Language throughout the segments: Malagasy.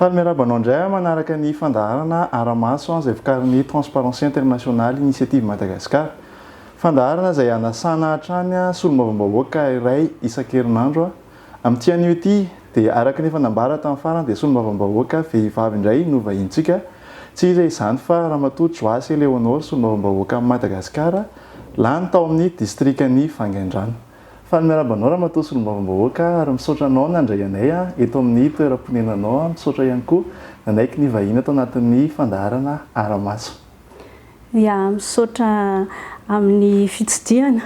Faly miarahaba anao indray aho manaraka ny fandaharana Ara-maso izay vokarin'ny Transparency International Initiative Madagascar. Fandaharana izay anasana hatrany solombavambahoaka iray isan-kerinandro. Amin'ity anio ity dia araka ny efa nambara tamin'ny farany dia solombavambahoaka vehivavy indray no vahinintsika, tsy iza izany fa Ramatoa Joasy Eleonore solombavambahoakan'i Madagasikara lany tao amin'ny distrikan'i Vangaindrano. Faly miaraba anao Ramatoa solombavambahoaka ary misaotra anao nandray anay eto amin'ny toeram-ponenanao, misaotra ihany koa nanaiky ny vahiny ato anatin'ny fandaharana Aramaso. Ya, misaotra amin'ny fitsidihana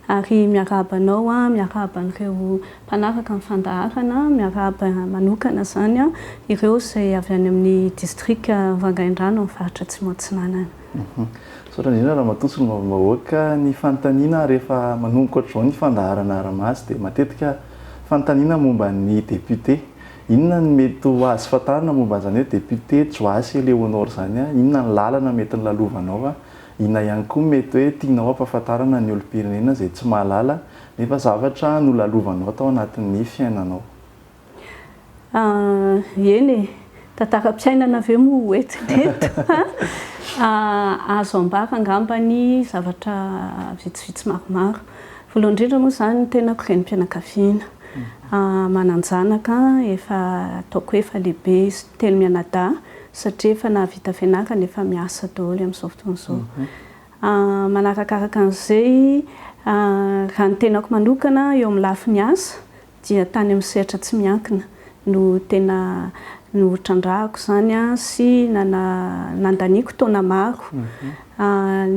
ary miarahaba anao aho, miarahaba an'ireo mpanaraka ny fandaharana, miarahaba manokana izany ireo izay avy any amin'ny distrika Vangaindrano amin'ny faritra Atsimo Atsinanana. Misaotra indrindra Ramatoa Solombavambahoaka. Ny fanontaniana rehefa manomboka ohatr'izao ny fandaharana Arahamaso dia matetika fanontaniana momba ny député. Inona no mety ho azo fantarina momba an'izany hoe député Joasy Eléonore izany? Inona ny lalana mety nolalovanao? Inona ihany koa no mety hoe tianao hampahafantarana ny olom-pirenena izay tsy mahalala nefa zavatra nolalovanao tao anatin'ny fiainanao? Eny e! Tantaram-piainana ve moa ho entina eto? Azo ambara angamba ny zavatra vitsivitsy maromaro. Voalohany indrindra moa izany ny tenako renim-pianakaviana. Manan-janaka efa ataoko hoe efa lehibe izy telo mianadahy satria efa nahavita fianarana, efa miasa daholo amin'izao fotoana izao. Manarakaraka an'izay, raha ny tenako manokana eo amin'ny lafiny asa dia tany amin'ny sehatra tsy miankina no tena notrandrahako izany sy nandaniako taona maro.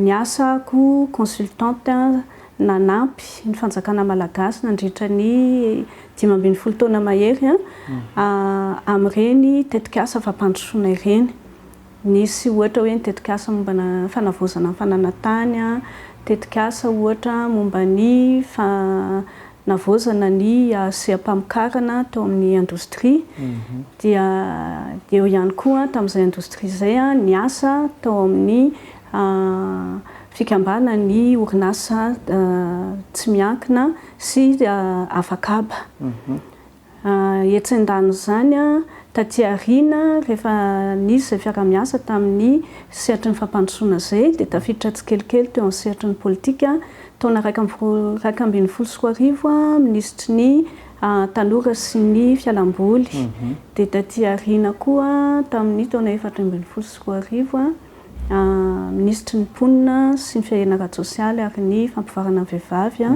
Niasa aho consultante. nanampy ny fanjakana malagasy nandritra ny dimy ambin'ny folo taona mahery amin'ireny tetikasa fampandrosoana ireny. Nisy ohatra hoe ny tetikasa momba ny fanavaozana ny fananantany, tetikasa ohatra momba ny fanavaozana ny seha-pamokarana tao amin'ny indostria, dia eo ihany koa tamin'izay indostria izay ny asa tao amin'ny a Fikambanan' ny orinasa tsy miankina sy Avakaba. Etsy andanin' izany, taty aoriana, rehefa nisy izay fiarahamiasa tamin' ny sehatry ny fampandrosoana izay, dia tafiditra tsikelikely teo amin' ny sehatry ny pôlitika. Taona iraika amby roa iraika ambin'ny folo sy roa arivo, minisitry ny Tanora sy ny Fialamboly, dia taty aoriana koa, tamin' ny taona efatra ambin'ny folo sy roa arivo, minisitry ny Mponina sy ny Fiarenana ara-tsosialy ary ny Fampivoarana ny Vehivavy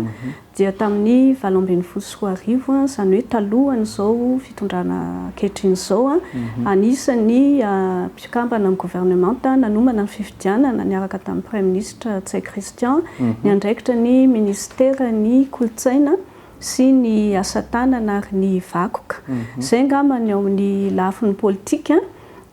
dia tamin'ny valo ambin'ny folo sy roa arivo, izany hoe talohan'izao fitondrana ankehitriny izao, anisan'ny mpikambana amin'ny governemanta nanomana ny fifidianana niaraka tamin'ny Praiminisitra Ntsay Christian niandraikitra ny minisiteran'ny Kolontsaina sy ny Asa tanana ary ny Vakoka. Izay angamba ny ao amin'ny lafiny politika.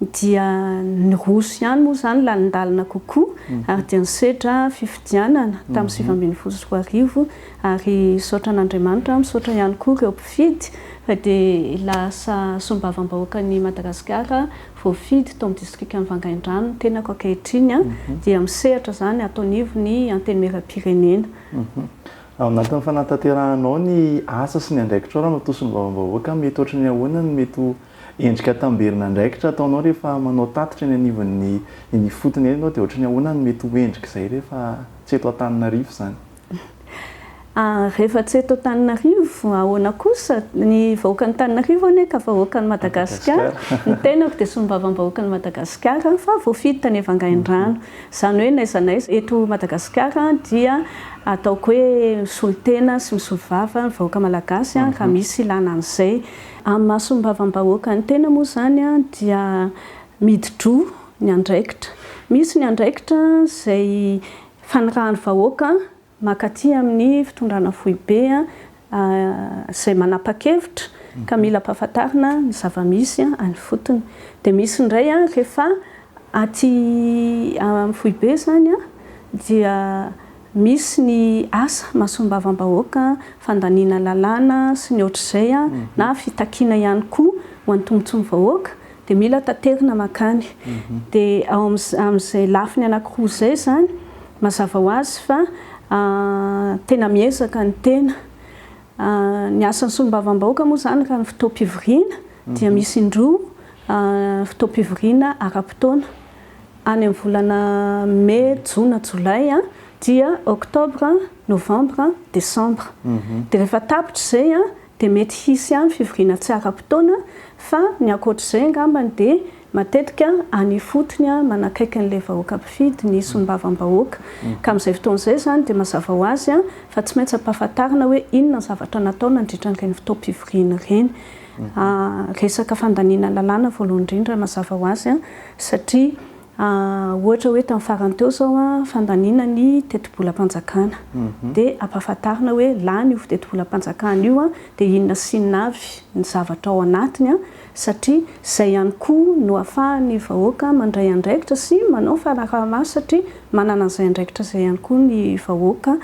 dia niroso ihany moa izany lalindalina kokoa ary dia nisedra fifidianana tamin'ny sivy ambin'ny folo sy roa arivo ary misaotra an'Andriamanitra, misaotra ihany koa ireo mpifidy fa dia lasa solombavambahoakan'i Madagasikara voafidy tao amin'ny distrikan'i Vangaindrano ny tenako ankehitriny dia misehatra izany ato anivon'ny Antenimierampirenena. Ao anatin'ny fanatanterahanao ny asa sy ny andraikitrao raha matoa solombavambahoaka mety ohatry ny ahoana no mety ho Endrika tamberin'andraikitra ataonao rehefa manao tatitra eny anivon'ny eny ifotony eny ianao dia ohatran'ny ahoana no mety ho endrik'izay rehefa tsy eto Antananarivo izany? Rehefa tsy eto Antananarivo, ahoana kosa? Ny vahoakan'Antananarivo anie ka vahoakan'i Madagasikara, ny tenako dia solombavambahoakan'i Madagasikara fa voafidy tany Vangaindrano. Izany hoe n'aiza n'aiza eto Madagasikara dia ataoko hoe misolo tena sy misolo vava ny vahoaka malagasy raha misy ilana an'izay. Amin'ny mason'ny vavam-bahoaka ny tena moa izany dia midi-droa ny andraikitra. Misy ny andraikitra izay fanirahan'ny vahoaka mankaty amin'ny fitondrana foibe izay manapa-kevitra ka mila ampahafantarina ny zava-misy any ifotony. Dia misy indray rehefa aty amin'ny foibe izany dia Misy ny asa masombavam-bahoaka, fandaniana lalàna sy ny ohatr'izay na fitakiana ihany koa ho an'ny tombotsoan'ny vahoaka dia mila taterina mankany. Dia ao amin'izay lafiny anankiroa izay izany, mazava ho azy fa tena miezaka ny tena. Ny asan'ny solombavambahoaka moa izany raha ny fotoam-pivoriana dia misy indroa, fotoam-pivoriana ara-potoana. Any amin'ny volana Mey, Jona, Jolay, dia Octobre, Novembre, Decembre. Dia rehefa tapitra izay dia mety hisy ihany fivoriana tsy ara-potoana fa ny ankoatr'izay angambany dia matetika any ifotony manakaiky an'ilay vahoaka mpifidy ny solombavambahoaka. Ka amin'izay fotoana izay izany dia mazava ho azy fa tsy maintsy ampahafantarina hoe inona ny zavatra natao nandritra an'ireny fotoam-pivoriana ireny. Resaka fandaniana lalàna voalohany indrindra mazava ho azy. Satria ohatra hoe tamin'ny farany teo izao fandaniana ny tetibolam-panjakana dia ampahafantarina hoe lany io tetibolam-panjakana io dia inona sy inona avy ny zavatra ao anatiny satria izay ihany koa no ahafahan'ny vahoaka mandray andraikitra sy manao fanaraha-maso satria manana an'izay andraikitra izay ihany koa ny vahoaka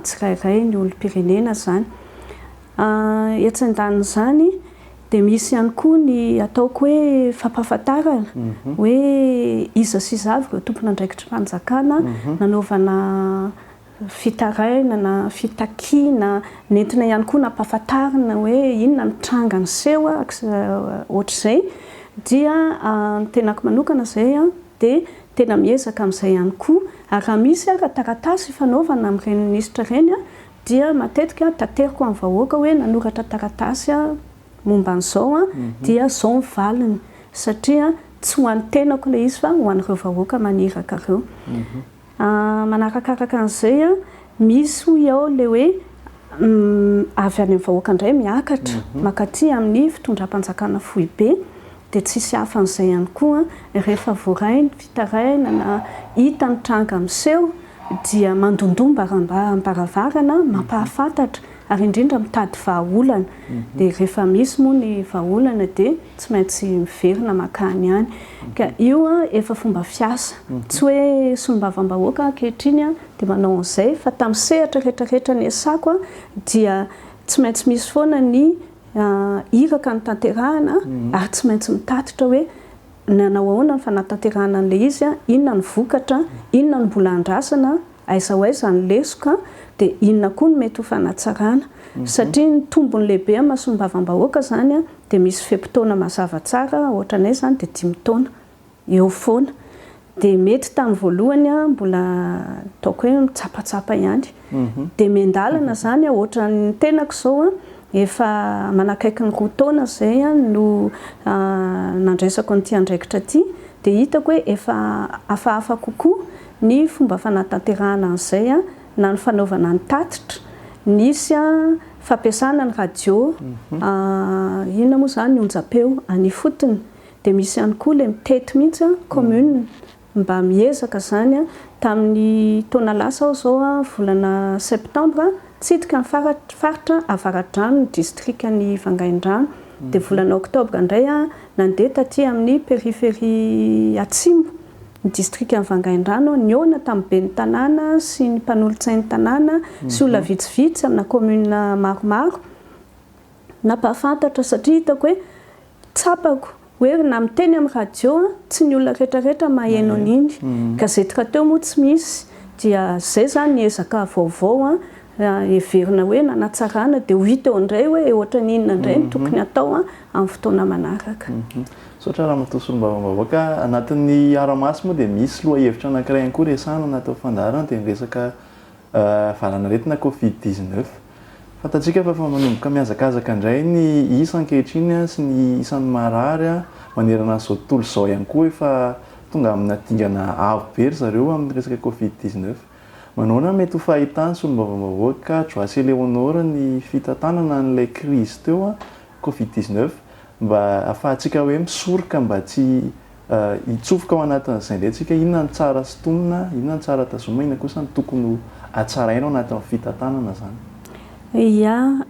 tsirairay, ny olom-pirenena izany. Etsy andanin'izany. Dia misy ihany koa ny ataoko hoe fampahafantarana hoe iza sy iza avy ireo tompon'andraikitry fanjakana nanaovana fitarainana, fitakiana, nentina ihany koa nampahafantarina hoe inona ny tranga niseho ohatr'izay dia ny tenako manokana izay dia tena miezaka amin'izay ihany koa ary raha misy ara-taratasy ifanaovana amin'ireny minisitra ireny dia matetika tanteriko amin'ny vahoaka hoe nanoratra taratasy aho momba an'izao dia izao ny valiny satria tsy ho an'ny tenako ilay izy fa ho an'ireo vahoaka maniraka ireo. Manarakaraka an'izay, misy hoy aho ilay hoe avy any amin'ny vahoaka indray miakatra mankaty amin'ny fitondram-panjakana foibe. dia tsy hisy hafa an'izay ihany koa rehefa voaray ny fitarainana na hita ny tranga miseho dia mandondoa mbarambam-baravarana mampahafantatra ary indrindra mitady vahaolana dia rehefa misy moa ny vahaolana dia tsy maintsy miverina makany any ka io efa fomba fiasa tsy hoe solombavambahoaka ankehitriny dia manao an'izay fa tamin'ny sehatra rehetra rehetra niasako dia tsy maintsy misy foana ny Iraka ny tanterahana ary tsy maintsy mitatitra hoe nanao ahoana ny fanatanterahana an'ilay izy, inona ny vokatra, inona no mbola andrasana, aiza ho aiza ny lesoka, dia inona koa no mety ho fanatsarana. Satria ny tombony lehibe amin'ny maha solombavambahoaka izany dia misy fe-potoana mazava tsara, ohatranay izany dia dimy taona. eo foana. Dia mety tamin'ny voalohany aho mbola ataoko hoe mitsapatsapa ihany. Dia miandalana izany ohatran'ny tenako izao efa manakaiky ny roa taona izay no nandraisako an'ity andraikitra ity dia hitako hoe efa hafahafa kokoa ny fomba fanatanterahana an'izay na ny fanaovana ny tatitra. Nisy fampiasana ny radio inona moa izany onjampeo any ifotony. Dia misy ihany koa ilay mitety mihitsy an, commune mba miezaka izany an, tamin'ny taona lasa aho izao an, volana septembre nitsidika ny faritra avaradrano ny distrikan'i Vangaindrano, dia volana octobre indray aho nandeha taty amin'ny périphérie atsimo ny distrikan'i Vangaindrano aho, nihaona tamin'ny ben'ny tanàna sy ny mpanolotsain'ny tanàna sy olona vitsivitsy amina commune maromaro, nampahafantatra satria hitako hoe, Tsapako, hoe ry na miteny amin'ny radio an, tsy ny olona rehetra rehetra maheno an'iny. Gazety rahateo moa tsy misy, dia izay izany ny ezaka vaovao an, heverina hoe nanatsarana, dia ho hita eo indray hoe ohatran'ny inona indray no tokony hatao an, amin'ny fotoana manaraka. Misaotra Ramatoa Solombavambahoaka ka. Anatin'ny Aramaso moa dia misy lohahevitra anankiray ihany koa resahana na atao fandaharana dia ny resaka Valanaretina covid dix neuf. Fantatsika fa efa manomboka mihazakazaka indray ny isa ankehitriny sy ny isan'ny marary manerana an'izao tontolo izao ihany koa efa tonga amina dingana avo be ry zareo amin'ny resaka covid dix neuf. Manaoana no mety ho fahitan'ny solombavambahoaka Joasy Eléonore ny fitantanana an'ilay krizy teo covid dix neuf mba afahantsika hoe misoroka mba tsy Hitsofoka ao anatin'izay indray tsika, inona no tsara sintonina, inona no tsara tazomina, inona kosa no tokony ho hatsaraina ao anatin'ny fitantanana izany. Ia,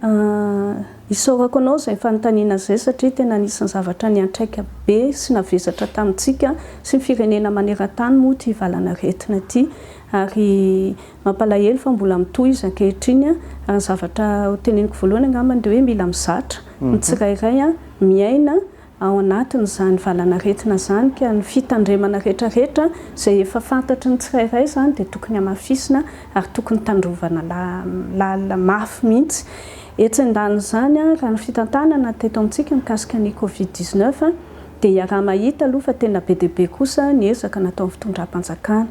isaorako anao izay fanontaniana izay satria tena anisan'ny zavatra niantraika be sy navesatra tamintsika sy ny firenena maneran-tany moa ity valan'aretina ity ary mampalahelo fa mbola mitohy izy ankehitriny ary ny zavatra hoteneniko voalohany angambany dia hoe mila mizatra ny tsirairay miaina ao anatin'izany valanaretina izany ka ny fitandremana rehetrarehetra izay efa fantatry ny tsirairay izany dia tokony hamafisina ary tokony tandrovana lalina mafy mihitsy. Etsy andanin'izany, raha ny fitantanana teto amintsika mikasika ny covid dix neuf dia iaraha-mahita aloha fa tena be dia be kosa ny ezaka nataon'ny fitondram-panjakana.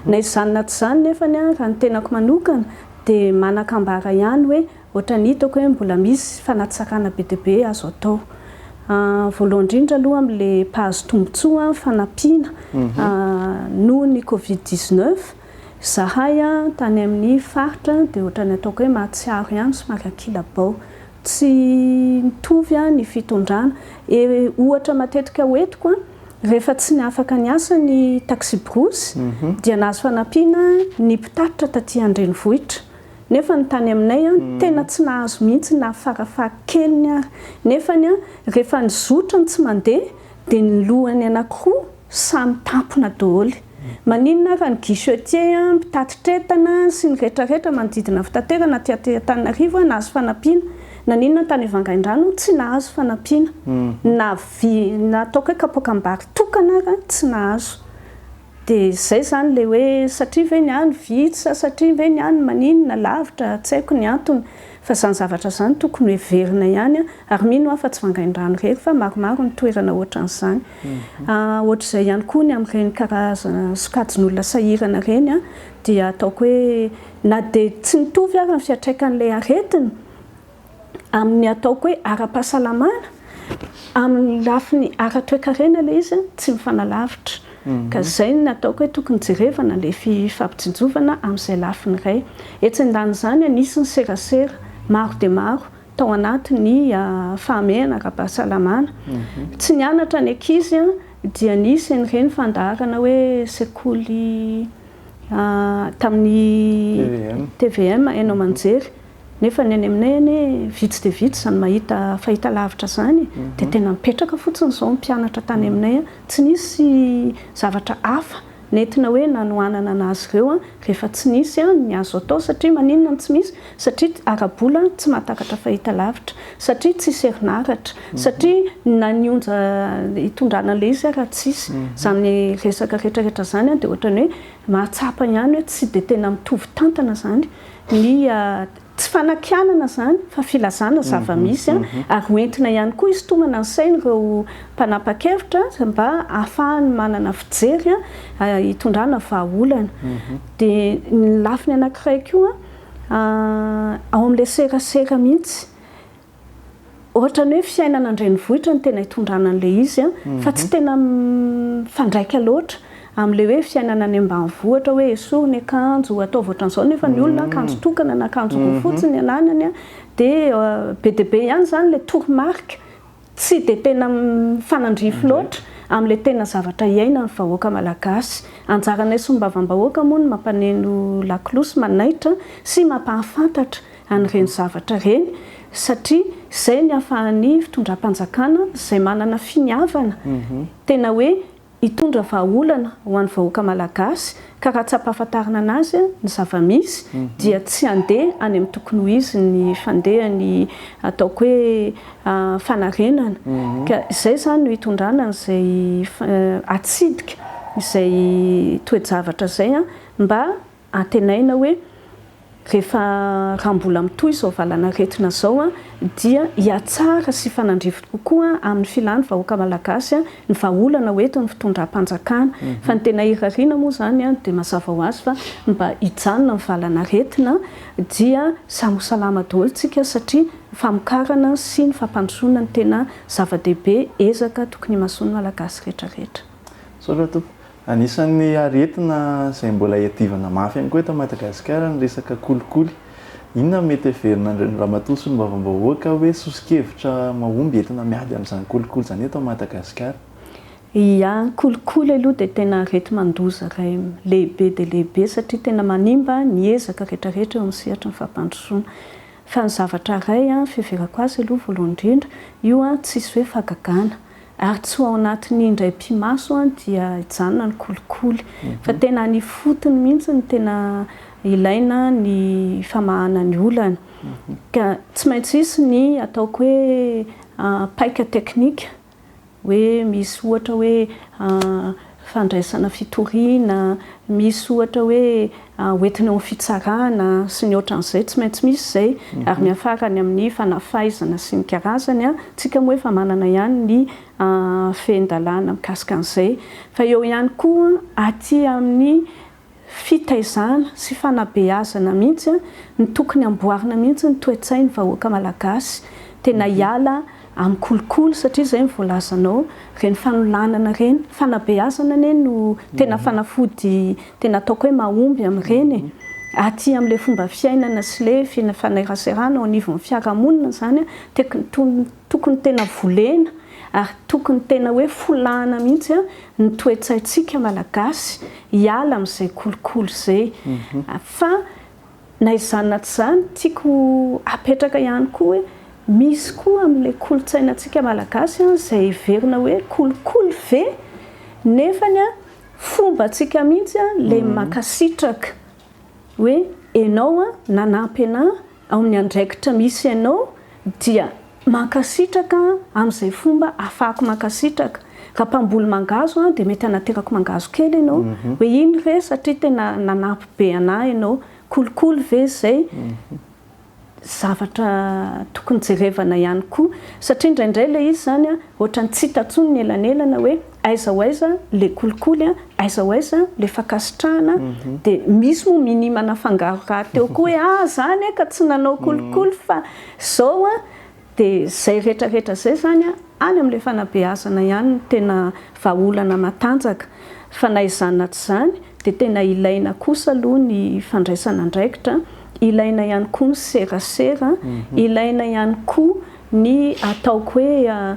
Na izany na tsy izany nefany raha ny tenako manokana dia manakambara ihany hoe Ohatran'ny hitako hoe mbola misy fanatsakana be dia be azo atao. Voalohany indrindra aloha amin'ilay mpahazo tombontsoa fanampiana noho ny covid dix neuf, izahay tany amin'ny faritra dia ohatran'ny ataoko hoe mahatsiaro ihany somary ankilabao. Tsy mitovy ny fitondrana. Ohatra matetika ho entiko, rehefa tsy niafaka niasa ny taksiborosy dia nahazo fanampiana ny mpitatitra taty an-drenivohitra. nefa ny tany aminay an tena tsy nahazo mihitsy na fara faha keliny ary nefany an rehefa ny zotra no tsy mandeha dia ny lohany anakiroa samy tampona doholy maninona ary ny guichetier an mpitatitra entana sy ny rehetra rehetra manodidina fitaterana aty Antananarivo an nahazo fanampiana naninona tany Vangaindrano tsy nahazo fanampiana na vy na atao koe kapoakam-bary tokana ary an tsy nahazo Dia izay izany ilay hoe satria ve ny ahy no vitsy sa satria ve ny ahy no maninona, lavitra, tsy haiko ny antony. Fa izany zavatra izany tokony ho heverina ihany ary mino aho fa tsy vangaindrano irery fa maromaro ny toerana ohatran'izany. Ohatr'izay ihany koa ny amin'ireny karazana sokajin'olona sahirana ireny dia ataoko hoe na dia tsy mitovy ary ny fiantraikan'ilay aretina amin'ny ataoko hoe ara-pahasalamana, amin'ny lafiny ara-toekarena ilay izy tsy mifanalavitra. Ka izay no nataoko hoe tokony jerevana ilay fifampitsinjovana amin'izay lafiny iray. Etsy andanin'izany, nisy ny serasera maro dia maro tao anatin'ny fahamehana ara-pahasalamana. Tsy nianatra ny ankizy dia nisy an'ireny fandaharana hoe sekoly tamin'ny tvm, haino aman-jery. Nefa ny any aminay anie vitsy dia vitsy izany mahita fahitalavitra izany dia tena mipetraka fotsiny izao ny mpianatra tany aminay. Tsy nisy zavatra hafa nentina hoe nanohanana an'azy ireo rehefa tsy nisy ny azo atao satria maninona no tsy misy? Satria ara-bola tsy mahatakatra fahitalavitra, satria tsisy herinaratra, satria na ny onja hitondrana an'ilay izy ary tsisy. Izany resaka rehetra rehetra izany dia ohatran'ny hoe mahatsapa ihany hoe tsy dia tena mitovy tantana izany ny tsy fanakianana izany fa filazana zava-misy ary ho entina ihany koa hisintomana ny sain'ireo mpanapa-kevitra mba hahafahany manana fijery hitondrana vahaolana. Dia ny lafiny anankiray koa ao amin'ilay serasera mihitsy ohatran'ny hoe fiainana an-drenivohitra no tena itondrana an'ilay izy an, fa tsy tena mifandraika loatra amin'ilay hoe fiainana any ambanivohitra ohatra hoe esory ny akanjo, ataovy ohatran'izao nefa ny olona akanjo tokana na akanjo roa fotsiny ny ananany an, dia be dia be ihany izany ilay toromarika tsy dia tena mifanandrify loatra amin'ilay tena zavatra iainan'ny vahoaka malagasy. Anjaranay solombavambahoaka moa ny mampaneno lakolosy, manaitra sy mampahafantatra. an'ireny zavatra ireny satria izay ny ahafahan'ny fitondram-panjakana izay manana finiavana tena hoe hitondra vahaolana ho an'ny vahoaka malagasy ka raha tsapahafantarina anazy ny zava-misy dia tsy handeha any amin'ny tokony ho izy ny fandehany ataoko hoe fanarenana ka izay izany no hitondrana an'izay hatsidika izay toe-javatra izay mba Antenaina hoe rehefa raha mbola mitohy izao valanaretina izao dia hihatsara sy hifanandrify kokoa amin'ny filan'ny vahoaka malagasy ny vahaolana ho entin'ny fitondram-panjakana. Fa ny tena irariana moa izany dia mazava ho azy fa mba hijanona ny valanaretina dia samy ho salama daholo isika satria ny famokarana sy ny fampandrosoana no tena zava-dehibe, ezaka tokony himasoan'ny malagasy rehetrarehetra. Misaotra Tompoko. Anisan'ny aretina izay mbola iadivana mafy ihany koa eto Madagasikara ny resaka kolikoly. Inona no mety heverin'Andrian'ny Ramatoa Solombavambahoaka hoe soso-kevitra mahomby entina miady amin'izany kolikoly izany eto Madagasikara? Ia, ny kolikoly aloha dia tena areti-mandoza iray lehibe dia lehibe satria tena manimba ny ezaka rehetra rehetra eo amin'ny sehatry ny fampandrosoana. Fa ny zavatra iray fiheverako azy aloha voalohany indrindra, io tsisy hoe fahagagana. Ary tsy ho ao anatin'ny indray pimaso an dia hijanona ny kolikoly. Fa tena any ifotony mihitsy no tena ilaina ny famahana ny olana. Ka tsy maintsy hisy ny ataoko hoe paika teknika hoe misy ohatra hoe fandraisana fitoriana, misy ohatra hoe hoentina eo amin'ny fitsarana sy ny ohatran'izay, tsy maintsy misy izay, ary miafara any amin'ny fanafaizana sy ny karazany, isika moa efa manana ihany ny fehin-dalàna mikasika an'izay, fa eo ihany koa aty amin'ny fitaizana sy fanabeazana mihitsy no tokony amboarina mihitsy ny toe-tsain'ny vahoaka malagasy tena hiala amin'ny kolikoly satria izay ny voalazanao ireny fanolanana ireny fanabeazana anie no tena fanafody tena ataoko hoe mahomby amin'ireny e! aty amin'ilay fomba fiainana sy ilay fanairaserana ao anivon'ny fiarahamonina izany an, tokony Tokony tena volena ary tokony tena hoe folahana mihitsy ny toe-tsaintsika Malagasy hiala amin'izay kolikoly izay. Fa na izany na tsy izany, tiako hapetraka ihany koa hoe misy koa amin'ilay kolontsainantsika Malagasy izay heverina hoe kolikoly ve nefa fombantsika mihitsy ilay mankasitraka hoe ianao nanampy an'ahy Ao amin'ny andraikitra misy anao dia mankasitraka amin'izay fomba ahafahako mankasitraka. Raha mpamboly mangahazo aho dia mety hanaterako mangahazo kely ianao hoe iny re satria tena nanampy be anah ianao. Kolikoly ve izay? Zavatra tokony jerevana ihany koa satria indraindray ilay izy izany ohatran'ny tsy hita intsony ny elanelana hoe. aiza ho aiza le kolikoly a, aiza ho aiza le fankasitrahana a, de misy moa minima nafangaro rahateo koa hoe ah zany ah ka tsy nanao kolikoly fa zao a, de zay rehetra rehetra zay zany a any amle fanabeazana ihany no tena vahaolana matanjaka, fa na izany na tsy izany de tena ilaina kosa aloha ny fandraisana andraikitra, ilaina ihany koa ny serasera, ilaina ihany koa ny ataoko hoe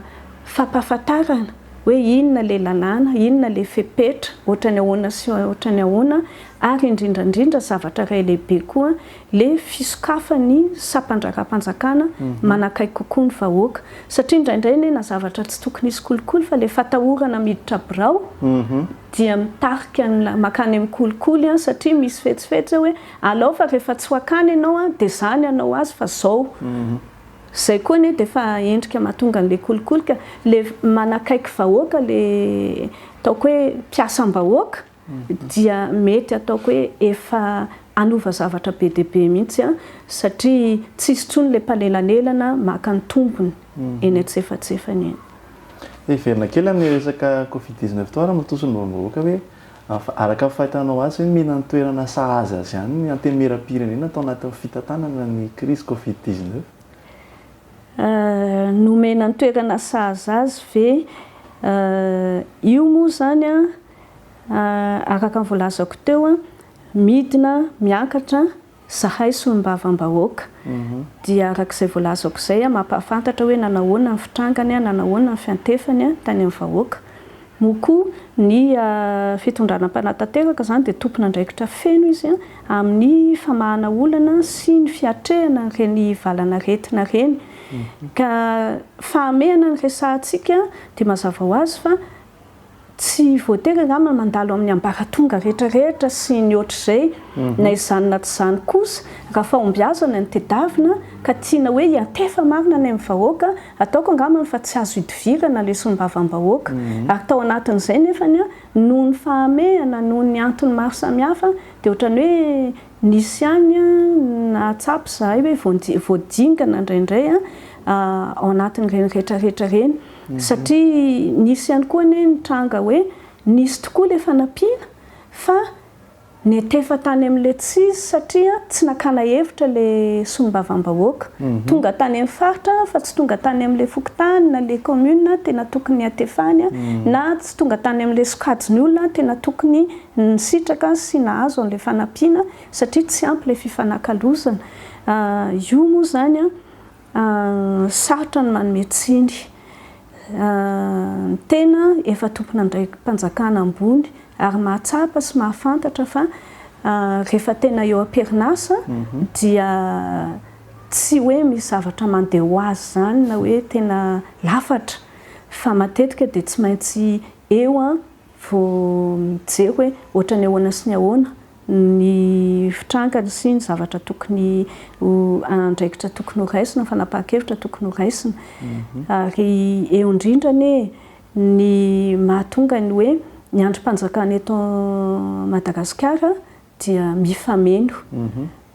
fampahafantarana. hoe inona ilay lalàna, inona ilay fepetra, ohatran'ny ahoana sy ohatran'ny ahoana, ary indrindra indrindra zavatra iray lehibe koa, ilay fisokafan'ny sampan-draharaham-panjakana manakaiky kokoa ny vahoaka. Satria indraindray anie na zavatra tsy tokony hisy kolikoly fa ilay fatahorana miditra birao dia mitarika an'ilay mankany amin'ny kolikoly satria misy fetsifetsy hoe alao fa rehefa tsy ho akany ianao dia izany hanao azy fa izao. Zay koa anie dia efa endrika mahatonga an'ilay kolikoly ka, ilay manakaiky vahoaka ilay ataoko hoe mpiasam-bahoaka dia mety ataoko hoe efa hanova zavatra be dia be mihitsy satria tsisy intsony ilay mpanelanelana maka ny tombony eny antsefatsefany eny. Hiverina kely amin'ny resaka covid dix neuf teo ary amin'ny tontolom-bahoaka hoe Araka ny fahitanao azy ve mila ny toerana sahaza azy ihany ny antenimieram-pirenena tao anatin'ny fitantanana ny krizy covid dix neuf? Nomena ny toerana sahaza azy ve? Io moa izany araka ny voalazako teo midina miakatra Zahay solombavambahoaka dia arak'izay voalazako izay mampahafantatra hoe nanahoana ny fitrangany, nanahoana ny fiantefany tany amin'ny vahoaka. Moa koa ny fitondrana mpanatanteraka izany dia tompon'andraikitra feno izy amin'ny famahana olana sy ny fiatrehana ireny valan'aretina ireny. Ka fahamehana ny resahantsika dia mazava ho azy fa. Tsy voatery angamba mandalo amin'ny ambaratonga rehetra rehetra sy ny ohatr'izay na izany na tsy izany kosa raha fahombiazana no tedavina ka tiana hoe hiantefa marina any amin'ny vahoaka, ataoko angambany fa tsy azo idivirana lesom-bavam-bahoaka ary tao anatin'izay nefany noho ny fahamehana, noho ny antony maro samihafa dia ohatran'ny hoe nisy ihany nahatsapa izahay hoe voadingana indraindray ao anatin'ireny rehetra rehetra ireny. Satria nisy ihany koa anie ny tranga hoe nisy tokoa ilay fanampiana fa netefa tany amin'ilay tsizy satria tsy nakana hevitra ilay solombavambahoaka. Tonga tany amin'ny faritra fa tsy tonga tany amin'ilay fokontany na ilay commune tena tokony hatefany na tsy tonga tany amin'ilay sokajin'ny olona tena tokony nisitraka sy nahazo an'ilay fanampiana satria tsy ampy ilay fifanakalozana. Io moa izany. Sarotra ny manome tsiny ny tena efa tompon'andraiki-panjakana ambony ary mahatsapa sy mahafantatra fa rehefa tena eo am-perinasa dia tsy hoe misy zavatra mandeha ho azy izany na hoe tena lafatra fa matetika dia tsy maintsy eo vao mijery hoe ohatran'ny ahoana sy ny ahoana ny fitrankany sy ny zavatra tokony ho andraikitra tokony ho raisina, fanapahan-kevitra tokony ho raisina. Ary eo indrindra anie ny mahatonga ny hoe ny andrim-panjakana eto Madagasikara dia mifameno.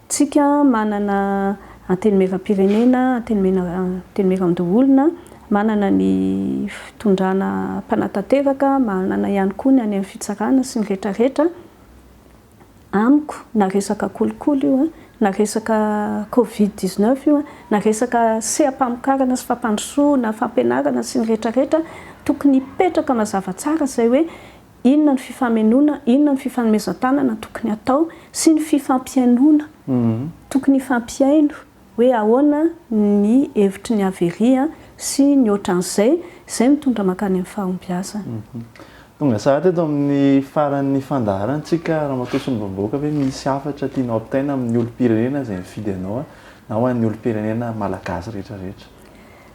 Tsika manana antenimieram-pirenena, antenimieran-doholona, manana ny fitondrana mpanatanteraka, manana ihany koa ny any amin'ny fitsarana sy ny rehetra rehetra. amiko na resaka kolikoly io na resaka covid 19 io na resaka seha-pamokarana sy fampandrosoana, fampianarana sy ny retraretra tokony hipetraka mazava tsara izay hoe inona ny fifamenoana, inona ny fifanomezan-tanana tokony hatao sy ny fifampihainoana tokony hifampihaino. hoe ahoana ny hevitry ny Avery sy ny ohatran'izay, izay mitondra mankany amin'ny fahombiazana. Tonga saha teto amin'ny faran'ny fandaharantsika Ramatoa Solombavambahoaka ve misy hafatra tianao ampitaina amin'ny olom-pirenena izay mifidy anao na ho an'ny olom-pirenena malagasy rehetra rehetra?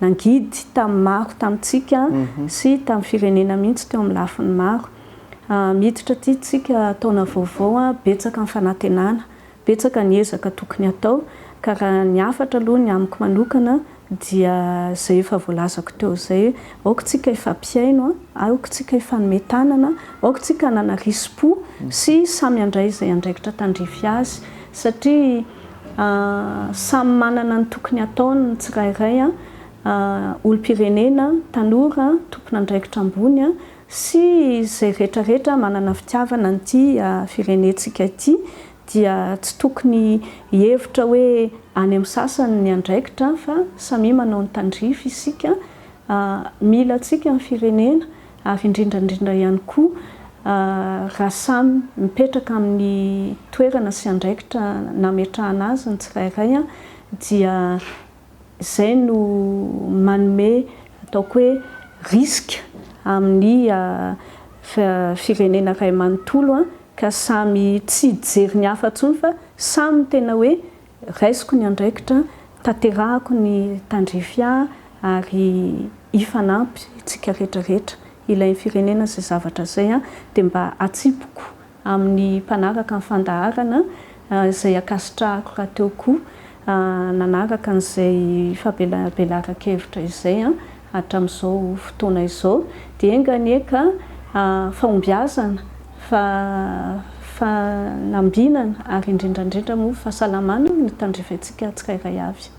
Nangidy tamin'ny maro tamintsika sy tamin'ny firenena mihitsy teo amin'ny lafiny maro. Miditra aty tsika taona vaovao betsaka ny fanantenana, betsaka ny ezaka tokony hatao ka raha ny hafatra aloha ny amiko manokana dia izay efa voalazako teo izay, aoka tsika hifampihaino, aoka tsika hifanome tanana, aoka tsika hanana risi-po sy samy handray izay andraikitra tandrify azy satria. Samy manana ny tokony hataony ny tsirairay, olom-pirenena, tanora, tompon'andraikitra ambony sy izay rehetrarehetra manana fitiavana an'ity firenentsika ity dia tsy tokony hihevitra hoe any amin'ny sasany ny andraikitra fa samia manao ny tandrify isika, mila antsika ny firenena ary indrindra indrindra ihany koa raha samy mipetraka amin'ny toerana sy andraikitra nametrahana azy ny tsirairay dia izay no manome ataoko hoe risque amin'ny firenena iray manontolo ka samy tsy hijery ny hafa intsony fa samy tena hoe Raisiko ny andraikitra, tanterahako ny tandrify ahy ary hifanampy tsika rehetra rehetra ilain'ny firenena izay zavatra izay dia mba atsipiko amin'ny mpanaraka ny fandaharana izay ankasitrahako rahateo koa nanaraka an'izay fabelarabelaran-kevitra izay hatramin'izao fotoana izao dia enga anie ka fahombiazana, fanambinana ary indrindra indrindra moa fahasalamana no tandreventsika tsirairay avy.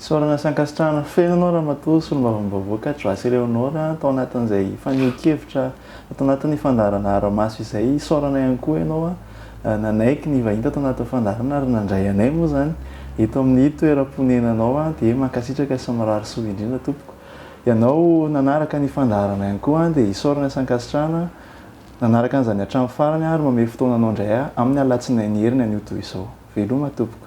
Isaorana sy ankasitrahana feno anao Ramatoa Solombavambahoaka Joasy Eleonora tao anatin'izay fanehoan-kevitra Ato anatin'ny fandaharana Aramaso izay isaorana ihany koa ianao nanaiky ny hivahiny tato anatin'ny fandaharana ary nandray anay moa izany eto amin'ny toeram-ponenanao dia mankasitraka sy mirary soa indrindra tompoko. Ianao nanaraka ny fandaharana ihany koa dia isaorana sy ankasitrahana nanaraka an'izany hatramin'ny farany ary mamehy fotoananao indray amin'ny alatsinainy heriny anio toy izao. Veloma tompoko.